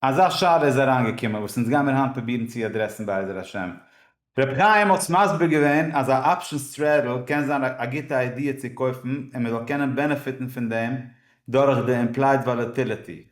אזא שאלה איז אריינגעקומען וואס אונז גיימיר היינט פרובירן צו אדרעסן בעזר השם. רבי חיים האט מסביר געווען אז א אפשענס טרעדל קען זיין א גוטע איידיע צו קויפן און מען זאל קענען בענעפיטן פון דעם דורך די אימפלייד וואלעטיליטי.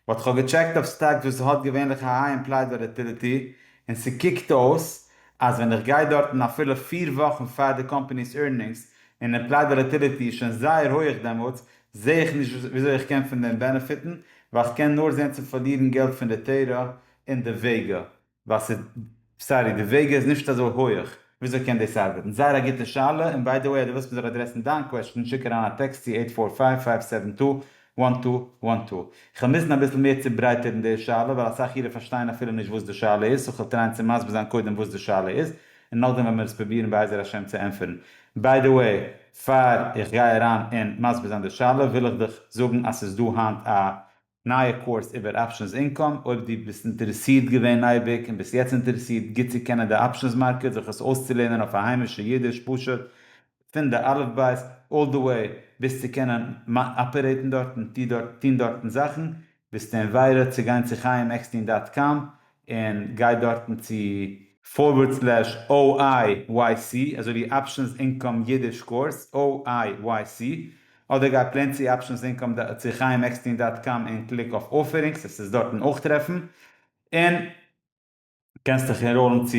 באט כ'האב געטשעקט אויף סטאקס וואס האט געווענליך א היי אימפלייד וואלעטיליטי און ס'קוקט אויס אז ווען איך גיי דארטן אפילו פֿיר וואכן פאר די קאמפעני'ס עירנינגס און אימפלייד וואלעטיליטי איז שוין זייער הויעך דעמאלטס זעה איך נישט וויאזוי איך קען פון דעם בענעפיטן, ווייל איך קען נאר זען צו פארלירן געלט פון די תורה און די וועגא, ווייל ס'איז, סארי, די וועגא איז נישט אזוי הויעך, וויאזוי קען דאס ארבעטן? זייער א גוטע שאלה, און ביי די וועי אז דו ווילסט מ'זאל אדרעסן דיין קוועשטען שיק אריין א טעקסט צו עיט פאר פייוו פייוו סעווען טו וואן טו וואן טו. כ'וועל מוזן אביסל מער צוברייטערן די שאלה ווייל אסאך אירע פארשטייען אפילו נישט וואס די שאלה איז, סאו כ'וועל טרייען צו מסביר זיין קודם וואס די שאלה איז, און נאכדעם וועל מיר עס פרובירן בעזר השם צו ענטפערן. ביי די וועי. פאר איך גיי אריין אין מסביר זיין די שאלה וויל איך דיך זאגן אז ס'איז דא היינט א נייע קורס איבער אפשענס אינקאם, אויב דו ביסט אינטערעסירט געווען אייביג און ביסט יעצט אינטערעסירט גוט צו קענען די אפשענס מארקעט זיך עס אויסצולערנען אויף א היימישע אידיש פשוט פון די אלף בית אלל די וועי ביז צו קענען אפערעיטן דארט און טון דארטן זאכן ביסט אין וועירע צו גיין צו חיים עקסטין דאט קאם און גיי דארטן צו פארווערד סלעש OIYC אזוי ווי אפשענס אינקאם אידיש קורס OIYC אדער גיי פלעין צו אפשענס אינקאם דאט צו חיים עקסטין דאט קאם און קליק אויף אופערינגס עס איז דארטן אויך טרעפן און קענסט דיך ענראלן צו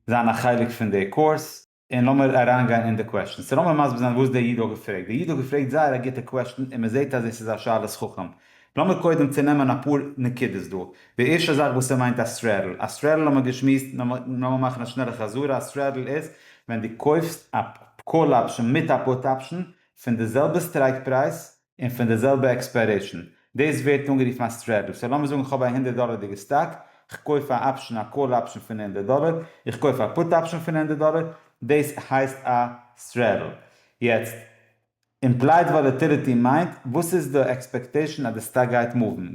זיין א חלק פון די קורס. און לאמיר אריינגיין אין די קוועשטען. סא לאמיר מסביר זיין וואס דער איד האט געפרעגט. דער איד האט געפרעגט זייער א גוטע קוועשטען און מען זעט אז עס איז א שאלת חכם. לאמיר קודם צונעמען אפאר נקודות דא. די ערשטע זאך וואס ער מיינט א סטרעדל. א סטרעדל האבן מיר געשמועסט, לאמיר מאכן א שנעלע חזרה, א סטרעדל איז ווען דו קויפסט א קאל אפשען מיט א פוט אפשען פון די זעלבע סטרייקפרייז און פון די זעלבע עקספיירעישאן. דאס ווערט אנגערופן א סטרעדל. סאו לאמיר זאגן איך האב א הונדערט דאלערדיגע סטאק, איך קויף א אפשען א קאל אפשען פון הונדערט דאלער, איך קויף א פוט אפשען פון הונדערט דאלער, דאס הייסט א סטרעדל. יעצט, אימפלייד וואלעטיליטי מיינט וואס איז די עקספעקטעישאן אז די סטאק גייט מופן,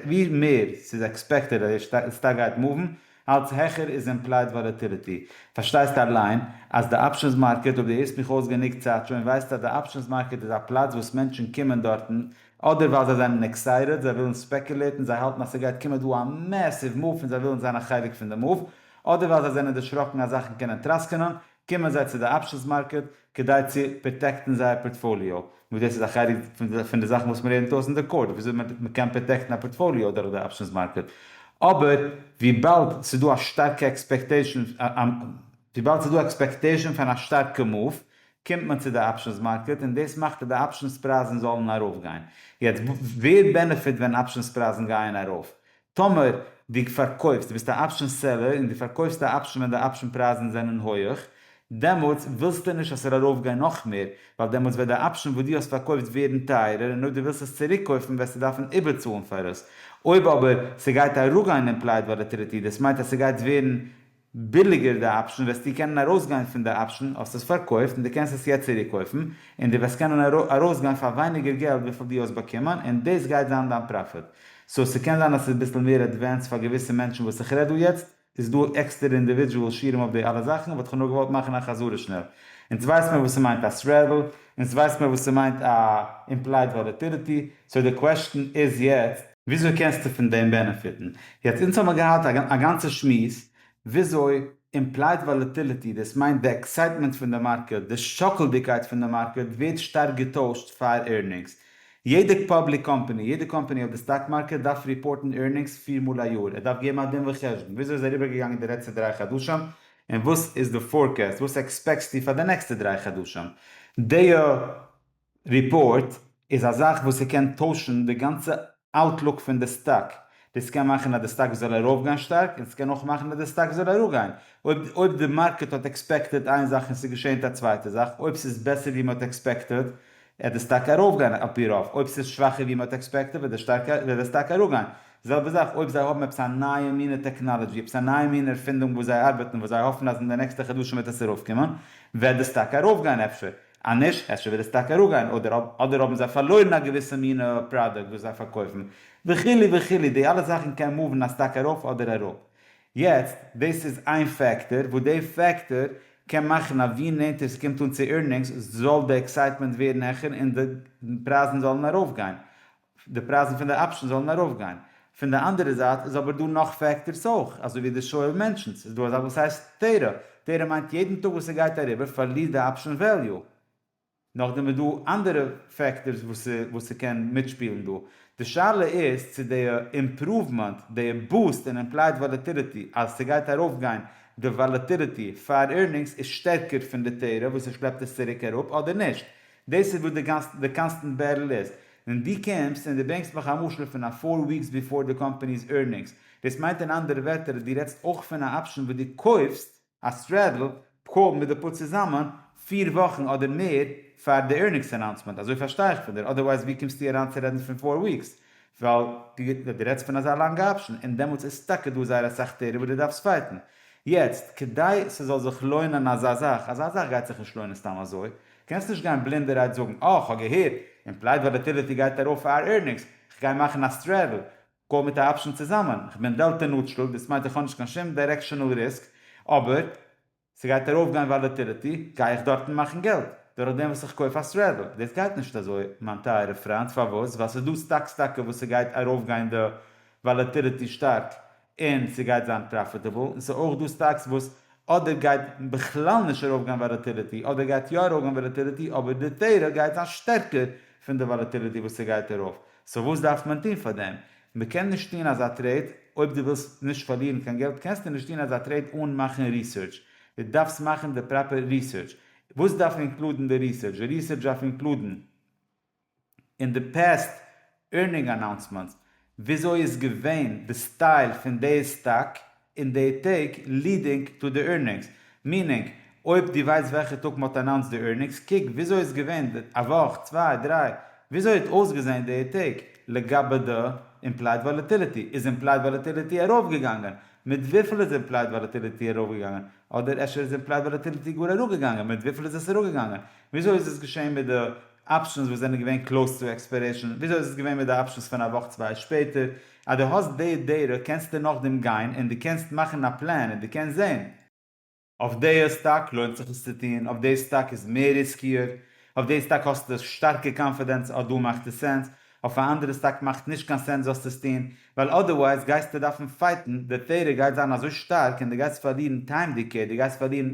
ווי מער ס'איז עקספעקטעד אז די סטאק גייט מופן, אלץ העכער איז אימפלייד וואלעטיליטי. פארשטייסט אליין אז די אפשענס מארקעט, אויב די הערסט מיך אויס גענוג צייט שוין, ווייסט אז די אפשענס מארקעט איז א פלאץ וואס מענטשן קומען דארטן אדער ווייל זיי זענען עקסייטעד, זיי ווילן ספעקולעטן, זיי האלטן אז ס'גייט קומען דא א מעסיוו מאוו און זיי ווילן זיין א חלק פון די מאוו, אדער ווייל זיי זענען דערשראקן אז זאכן קענען טראסקענען, קומען זיי צו די אפשענס מארקעט כדי צו פראטעקטן זייער פארטפאליאו, וואס דאס איז א חלק פון די זאכן וואס מען לערנט אויס אין די קורס, וויאזוי מען קען פראטעקטן א פארטפאליאו דורך די אפשענס מארקעט, אבער וויבאלד ס'איז דא א שטארקע עקספעקטעישן, וויבאלד ס'איז דא עקספעקטעישן פון א שטארקע מאוו, קומט מען צו די אפשענס מארקעט, און דאס מאכט אז די אפשענס פרייזן זאלן ארויפגיין. יעצט, ווער בענעפיט ווען אפשענס פרייזן גייען ארויף? טאמער דו פארקויפסט, דו ביסט א אפשען סעלער און דו פארקויפסט א אפשען ווען די אפשען פרייזן זענען הויעך, דעמאלטס ווילסטו נישט אז ס'זאל ארויפגיין נאך מער, ווייל דעמאלטס וועט די אפשען וואס דו האסט פארקויפט ווערן טייערער און אויב דו ווילסט עס צוריקקויפן וועסטו דארפן איבערצאלן פאר עס. אויב אבער ס'גייט אראפגיין אין פלייט וואלעטיליטי, דאס מיינט אז ס'גייט ווערן ביליגער די אפשן וועסטו קענען ארויסגיין פון די אפשן, האסט עס פארקויפט און די קענסט עס יעצט צוריק קויפן, און די וועסט קענען ארויסגיין פאר ווייניגער געלט וויפיל די האסט באקומען, און דאס גייט זיין דיין פראפיט. סאו ס'קען זיין אז ס'איז ביסל מער עדווענסד פאר געוויסע מענטשן וואס איך רעד דא יעצט, איז דא עקסטערע אינדיווידועל שיעורים אויף די אלע זאכן באט כ'האב נאר געוואלט מאכן א חזרה שנעל. אונז ווייסט מיר וואס ס'מיינט א סרעדל, אונז ווייסט מיר וואס ס'מיינט א אימפלייד וואלעטיליטי, סאו די קוועשטן איז יעצט, וויאזוי קענסטו פון דעם בענעפיטן? יעצט אונז האמיר געהאט א גאנצע שמועס וויאזוי אימפלייד וואלעטיליטי, דאס מיינט די עקסייטמענט פון די מארקעט, די שאקלדיגקייט פון די מארקעט, ווערט שטארק געטוישט פאר ערנינגס. יעדע פאבליק קאמפאני, יעדע קאמפאני אויף די סטאק מארקעט דארף ריפארטן ערנינגס פיר מאל א יאר, ער דארף געבן א דין וחשבון וויאזוי איז אריבערגעגאנגען די לעצטע דריי חדשים און וואס איז די פארקעסט, וואס עקספעקסטו פאר די נעקסטע דריי חדשים. דיע. ריפארט איז א זאך וואס ס'קען טוישן די גאנצע אוטלוק פון די סטאק, דאס קען מאכן אז די סטאק זאל ארויפגיין שטארק און ס'קען אויך מאכן אז די סטאק זאל אראפגיין, אויב אויב די מארקעט האט עקספעקטעד איין זאך און ס'געשענט א צווייטע זאך, אויב ס'איז בעסער ווי מ'האט עקספעקטעד עט די סטאק ארויפגיין על פי רוב, אויב ס'איז שוואכער ווי מ'האט עקספעקטעד וועט די שטארק וועט די סטאק אראפגיין, זעלבע זאך אויב זיי האבן עפעס א נייע מינע טעקנאלעדזשי עפעס א נייע מינע ערפינדונג וואס זיי ארבעטן וואס זיי האפן אז אין די נעקסטע חדשים וועט עס ארויפקומען וועט די סטאק ארויפגיין אפשר. אז נישט, אפשר וועט עס טאקע אראפגיין, אדער אדער האבן זיי פארלוירן א געוויסע מינע פראדוקט וואס זיי פארקויפן, וכו' וכו', די אלע זאכן קען מאוון א סטאק ארויף אדער אראפ. יעצט, דאס איז איין פעקטאר, וואס די פעקטאר קען מאכן אז ווי נענטער ס'קומט אן צו עירנינגס זאל די עקסייטמענט ווערן העכער און די פרייזן זאלן ארויפגיין, די פרייזן פון די אפשענס זאלן ארויפגיין. פון די אנדערע זייט איז אבער דא נאך פעקטארס אויך, אזוי ווי די שואו אוו מענשאנס איז דא א זאך וואס הייסט טערא, טערא מיינט יעדן טאג וואס ס'גייט אריבער פארלירט די אפשען וועליו. נאכדעם איז דא אנדערע פעקטארס וואס וואס ס'קען מיטשפילן דא. די שאלה איז צו די אימפראוומענט, די בוסט אין אימפלייד וואלעטיליטי, אז ס'גייט ארויפגיין די וואלעטיליטי פאר עירנינגס איז שטערקער פון די טערא וואס עס שלעפט עס צוריק אראפ אדער נישט. דאס איז וואס די קאנסטענט בעטל איז. ווען דו קומסט און דו ברענגסט מיך א משל פון א פאר וויקס ביפאר די קאמפעני'ס ערנינגס, דאס מיינט אין אנדערע ווערטער אז דו רעדסט אויך פון א אפשען וואס דו קויפסט, א סטרעדל, פקעו מיט די פאר צוזאמען, פיר וואכן אדער מער פאר די ערנינגס אנאונסמענט, אזוי פארשטיי איך פון דיר, אדערווייז ווי קומסטו אריין צו רעדן פון פאר וויקס, ווייל דו רעדסט פון אזא לאנגע אפשען, און דעמאלטס איז טאקע דא זייער אסאך טערעם וואס דו דארפסט פייטן. יעצט, כדי ס'זאל זיך לוינען אזא זאך, אזא זאך גייט זיך נישט לוינען סתם אזוי, קענסט נישט גיין בלינדערהייט זאגן אה כ'האב געהערט, אימפלייד וואלעטיליטי גייט ארויף פאר אר ערנינגס, כ'גיי מאכן א סטרעדל קאל מיט א אפשן צוזאמען, כ'בין דעלטא נוטשרעל, דאס מיינט איך האב נישט קיין שום דיירעקשענעל ריסק, אבער ס'גייט ארויפגיין וואלעטיליטי, גיי איך דארטן מאכן געלט דורך דעם וואס איך קויף א סטרעדל? דאס גייט נישט אזוי מיין טייערע פריינט, פארוואס? ווייל ס'איז דא סטאקס טאקע וואס ס'גייט ארויפגיין די וואלעטיליטי שטארק און ס'גייט זיין פראפיטעבל, און ס'איז אויך דא סטאקס וואס אדער גייט בכלל נישט ארויפגיין וואלאטיליטי, אדער גייט יא ארויפגיין וואלאטיליטי אבער די תורה גייט זיין שטערקער פון די וואלאטיליטי וואס ס'גייט ארויף, סאו וואס דארף מען טון פאר דעם? מ'קען נישט טון אזא טרעיד, אויב דו ווילסט נישט פארלירן קיין געלט קענסטו נישט טון אזא טרעיד אן מאכן ריסערטש, דו דארפסט מאכן די פראפער ריסערטש, וואס דארף אינקלודן די ריסערטש? די ריסערטש דארף אינקלודן. אין די פעסט ערנינג אנאונסמענטס וויאזוי איז געווען די סטייל פון די סטאק אין די טעג לידינג טו די ערנינגס, מיענינג אויב דו ווייסט וועלכע טאג מ'האט אנאונסט די ערנינגס קוק וויאזוי איז געווען די א וואך צוויי דריי וויאזוי האט אויסגעזען די טעג, לגבי די אימפלייד וואלעטיליטי איז אימפלייד וואלעטיליטי ארויפגעגאנגען? מיט וויפיל איז אימפלייד וואלעטיליטי ארויפגעגאנגען? אדער אפשר איז די פרייז וואלעטילעטי גאר אראפגעגאנגען, מיט וויפיל איז עס אראפגעגאנגען? וויאזוי איז עס געשען מיט די אפשענס וואס זענען געווען קלאוס צו עקספיירעישן? וויאזוי איז עס געווען מיט די אפשענס פון א וואך צוויי שפעטער? אז דו האסט די דעטא קענסטו נאכדעם גיין און דו קענסט מאכן א פלאן און דו קענסט זען, אויף די סטאק לוינט זיך עס צו טון, אויף די סטאק איז מער ריסקיער, אויף די סטאק האסטו שטארקע קאנפידענס אז דא מאכט עס סענס, אויף א אנדערע סטאק מאכט נישט קיין סענס זאלסטו עס טון, ווייל אדערווייז גייסטו דארפן פייטן, די טעראר גייט זיין אזוי שטארק און דו גייסט פארלירן טיים דיקעי, דו גייסט פארלירן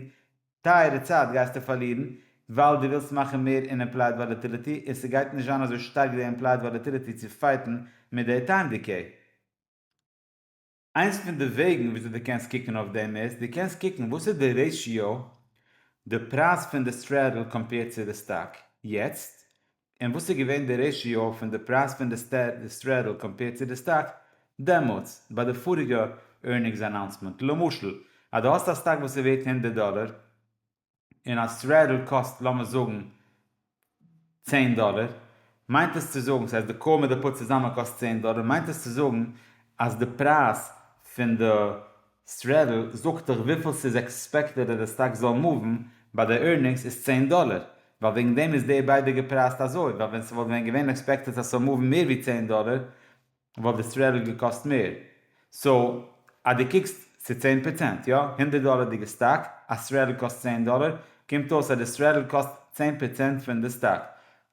טייערע צייט גייסטו פארלירן, ווייל דו ווילסט מאכן מער אין אימפלייד וואלעטיליטי און ס'גייט נישט זיין אזוי שטארק די אימפלייד וואלעטיליטי צו פייטן מיט די טיים דיקעי. איינס פון די וועגן וויאזוי דו קענסט קוקן אויף דעם איז, דו קענסט קוקן וואס איז די רעישיאו, די פרייז פון די סטרעדל קאמפעירד צו די סטאק יעצט, און וואס איז געווען די רעישיאו פון די פרייז פון די סטרעדל קאמפעירד צו די סטאק דעמאלטס, ביי די פאריגע ערנינגס אנאונסמענט. למשל, אז דו האסט א סטאק וואס איז ווערט הונדערט דאלער, און א סוועטער קאסט לאמיר זאגן צען דאלער, מיינט עס צו זאגן, ס'הייסט די קאר מיט די פוד צוזאמען קאסט צען דאלער, מיינט עס צו זאגן אז די פרייז פון די סוועטער זאגט דיך וויפיל ס'איז עקספעקטעד אז די סטאקס זאלן מאוון ביי די ערנינגס איז צען דאלער, ווייל וועגן דעם איז די ביידע געפרייזט אזוי, ווייל ווען ס'וואלט ווען געווען עקספעקטעד אז ס'זאל מאוון מער ווי צען דאלער וואלט די סטרעדל געקאסט מער, סאו אז דו קוקסט צו צען פראצענט, יא, הונדערט דאלערדיגע סטאק, א סטרעדל קאסט צען דאלער, קומט אויס אז די סטרעדל קאסט צען פראצענט פון די סטאק.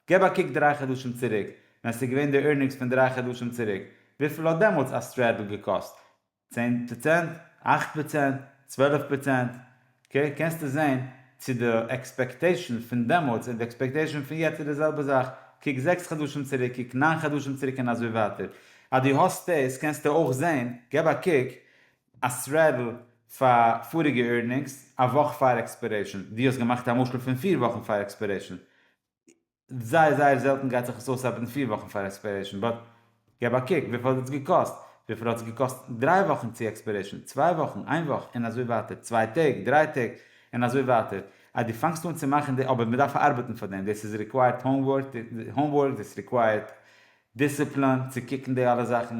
געב א קוק דריי חדשים צוריק, ווען ס'איז געווען די ערנינגס פון דריי חדשים צוריק, וויפיל האט דעמאלטס א סטרעדל געקאסט? צען פראצענט, אכט פראצענט, צוועלף פראצענט, אקעי, קענסטו זען צו די עקספעקטעישאן פון דעמאלטס און די עקספעקטעישאן פון יעצט איז די זעלבע זאך, קוק זעקס חדשים צוריק, קוק ניין חדשים צוריק און אזוי ווייטער, אז דו האסט דאס קענסטו אויך זען, געב א קוק, א סרעדל פאר פאריגע עירנינגס א וואך פאר עקספערעישאן, דו האסט געמאכט א משל פון פיר וואכן פאר עקספערעישאן, זייער זייער זעלטן גייט זיך עס אויס ארבעטן פֿיר וואכן פאר עקספיירעישן באט געב א קוק וויפיל האט עס געקאסט, וויפיל האט עס געקאסט דריי וואכן צו עקספיירעישן, צוויי וואכן, איין וואך, און אזוי ווייטער, צוויי טעג, דריי טעג, און אזוי ווייטער, אז דו פאנגסט אן צו מאכן די אבער מען דארף ארבעטן פאר דעם, דאס איז ריקווייערט האומווארק, דאס ריקווייערט דיסציפלין צו קוקן די אלע זאכן,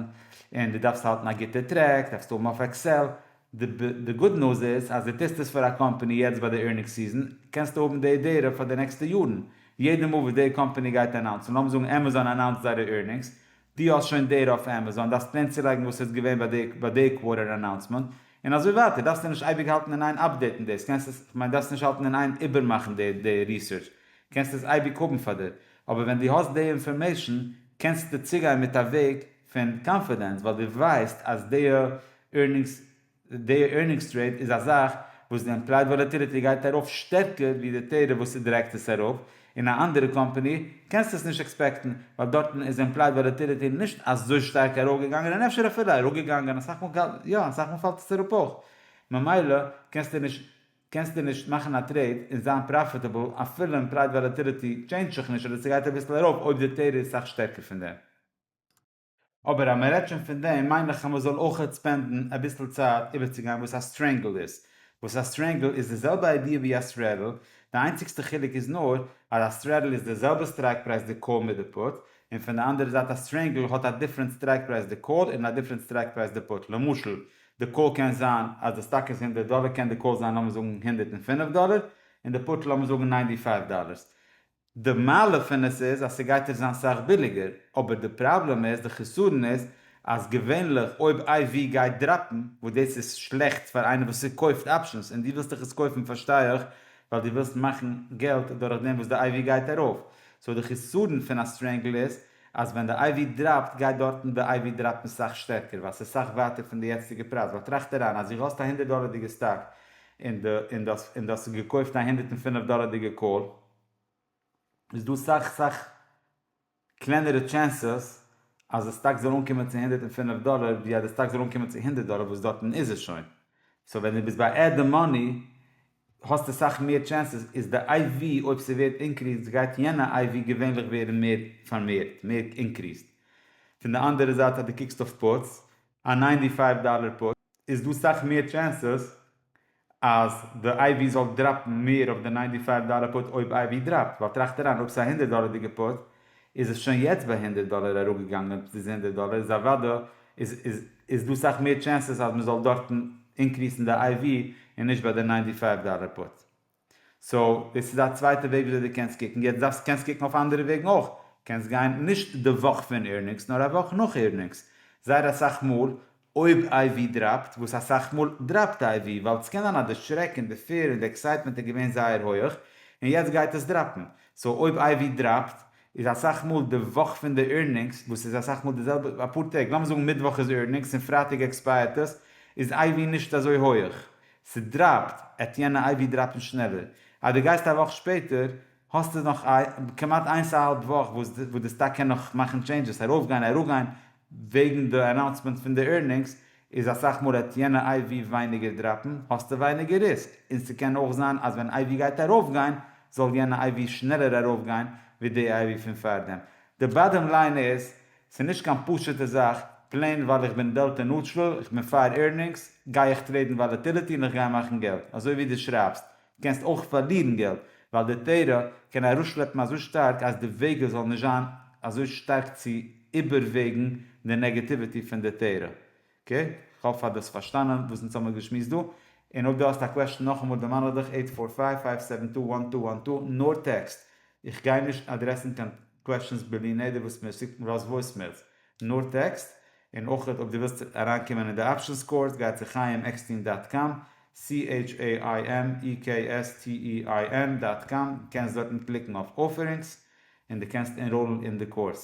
און דו דארפסט האלטן א גוטע טרעק, דארפסטו האבן אויף עקסעל, די גוד ניוז איז אז דו טוסט עס פאר א קאמפאני יעצט ביי די עירנינג סיזען, קענסטו האבן די דעטע פאר די נעקסטע יארן, יעדע מאל וואס די קאמפאני גייט אנאונסן, לאמיר זאגן עמעזאן אנאונסט זייערע עירנינגס, דו האסט שוין דעטע אויף עמעזאן, דארפסט פלעין צולייגן וואס איז געווען ביי די קווארטער אנאונסמענט, און אזוי ווייטער, דארפסטו נישט אייביג האלטן אין איין אפדעיטן דאס, קענסט עס, כ'מיין דארפסט נישט האלטן אין איין איבערמאכן די ריסערטש, קענסט עס אייביג האבן פאר דיר. אבער ווען דו האסט די אינפארמעישן קענסטו צוגיין מיט א וועג פון קאנפידענס ווייל דו ווייסט אז די ערנינגס די ערנינגס טרעיד איז א זאך וואס די עמפלייד וואלעטיליטי גייט ארויף שטערקער ווי די טעירעף וואס ס'דרעגט עס ארויף און א אנדערע קאמפאני קענסטו עס נישט עקספעקטן ווייל דארטן איז עמפלייד וואלעטיליטי נישט אזוי שטארק ארויגעגאנגען און אפשר אפילו אראפגעגאנגען אסאך מאל יא אסאך מאל פאלט עס אראפ אויך ממילא קענסטו נישט קענסטו נישט מאכן א טרעיד און זיין פראפיטעבל אפילו און פרייז וואלעטיליטי טשעינדזשט זיך נישט אדער ס'גייט אביסל ארויף אויב די טעיד איז סאך שטערקער פון דעם. אבער אז מ'רעדט שוין פון דעם מיין איך אז מ'זאל אויכעט ספענדן אביסל צייט איבערצוגיין וואס א סטרענגל איז. וואס א סטרענגל איז די זעלבע איידיע ווי א סרעדל, די איינציגסטע חילוק איז נאר אז א סרעדל איז די זעלבע סטרייק פרייז די קאל מיט די פוט, און פון די אנדערע זייט א סטרענגל האט א דיפרענט סטרייק פרייז די קאל און א דיפרענט סטרייק פרייז די פוט, למשל די קול קען זיין אז די סטאק איז הונדערט דאלער קען די קול זיין לאמיר זאגן הונדערט און פינף דאלער און די פוט לאמיר זאגן ניינטי פייוו דאלערס די מעלה פון עס איז אז ס'גייט נישט זיין סאך ביליגער אבער די פראבלעם איז די חסרון איז אז געווענליך אויב איי ווי גייט דראפן וואס דאס איז שלעכט פאר איינער וואס ס'קויפט אפשענס און דו ווילסט דיך עס קויפן פארשטיי איך ווייל דו ווילסט מאכן געלט דורך דעם וואס די איי ווי גייט ארויף סאו די חסרון פון א סטרענגל איז אז ווען די IV דראפט גייט דארטן די IV דראפן סאך שטערקער ווייל ס'איז סאך ווייטער פון די יעצטיגע פרייז ווייל טראכט אריין אז דו האסט א הונדערט דאלערדיגע סטאק און די און די און די האסט עס געקויפט א הונדערט און פינף דאלערדיגע קאל איז דא סאך סאך קלענערע טשענסעס אז די סטאק זאל אנקומען צו הונדערט און פינף דאלער ווי אז די סטאק זאל אנקומען צו הונדערט דאלער וואס דארטן איז עס שוין סאו ווען דו ביסט ביי עד די מאני האסטו סאך מער טשענסעס איז די איי ווי אויב ס'ווערט אינקריסט גייט יענע איי ווי געווענליך ווערן מער פארמערט מער אינקריסט פון די אנדערע זייט אז די קוקסט אויף פאוטס א ניינטי פייוו דאלער פאוט איז דא סאך מער טשענסעס אז די איי ווי זאל דראפן מער אויף די ניינטי פייוו דאלער פאוט אויב איי ווי דראפט ווייל טראכט אריין אויב ס'איז א הונדערט דאלערדיגע פאוט איז עס שוין יעצט ביי הונדערט דאלער אראפגעגאנגען צו די הונדערט דאלער איז אוודא איז איז איז דא סאך מער טשענסעס אז מען זאל דארטן אינקריסן די איי ווי און נישט ביי די ניינטי פייוו דאלער פוט סאו דאס איז א צווייטע וועג וויאזוי דו קענסט קוקן יעצט דארפסט קענסט קוקן אויף אנדערע וועגן אויך קענסט גיין נישט די וואך פון עירנינגס נאר א וואך נאך עירנינגס זייער אסאך מאל אויב איי ווי דראפט, וואס אסאך מאל דראפט איי ווי, ווייל סקען זיין אז די שרעק און די פעיר און די עקסייטמענט איז געווען זייער הויעך, און יעצט גייט עס דראפן, סאו אויב איי ווי דראפט, איז אסאך מאל די וואך פון די עירנינגס, וואס איז אסאך מאל די זעלבע אפאר טעג, לאמיר זאגן מיטוואך איז עירנינגס און פרייטאג עקספייערט עס, איז איי ווי נישט אזוי הויעך, ס'דראפט, עט יענע איי ווי דראפן שנעלער, אז די גייסט א וואך שפעטער, האסטו נאך א כמעט איינס א האלב וואך וואס די סטאק קען נאך מאכן טשעינדזשעס ארויפגיין אראפגיין, וועגן די אנאונסמענט פון די ערנינגס איז אסאך מאל עט יענע איי ווי ווייניגער דראפן האסטו ווייניגער ריסק, און ס'קען אויך זיין אז ווען איי ווי גייט ארויפגיין זאל יענע איי ווי שנעלער ארויפגיין ווי די איי ווי פון פארדעם. די באדעם ליין איז, ס'איז נישט קיין פשוטע זאך, פלעין ווייל איך בין דעלטא נוטרעל, איך בין פאר ערנינגס, גיי איך טרעידן וואלעטיליטי און איך גיי מאכן געלט, אזוי ווי די שרייבסט, קענסט אויך פארלירן געלט, ווייל די תורה קען ארויסשלעפן אזוי שטארק אז די וועגער זאלן נישט זיין אזוי שטארק צו איבערוועגן די נעגעטיוויטי פון די תורה. אקעי? כ'האף אז דו האסט פארשטאנען וואס אונז האמיר געשמועסט דא, און אויב דו האסט א קוועשן נאכאמאל דערמאן איך דיך עיט פאר פייוו פייוו סעווען טו וואן טו וואן טו נאר טעקסט, איך גיי נישט אדרעסן קיין קוועשנס בלי נדר וואס מיר שיקט רז וואויסמעילס, נאר טעקסט, און אויך אויב דו ווילסט אריינקומען אין די אפשענס קאורס גיי צו חיים עקסטין דאט קאם, CHAIMEKSTEIN דאט קאם, קענסט דארטן קליקן אויף אופערינגס, און דו קענסט ענראלן אין די קאורס.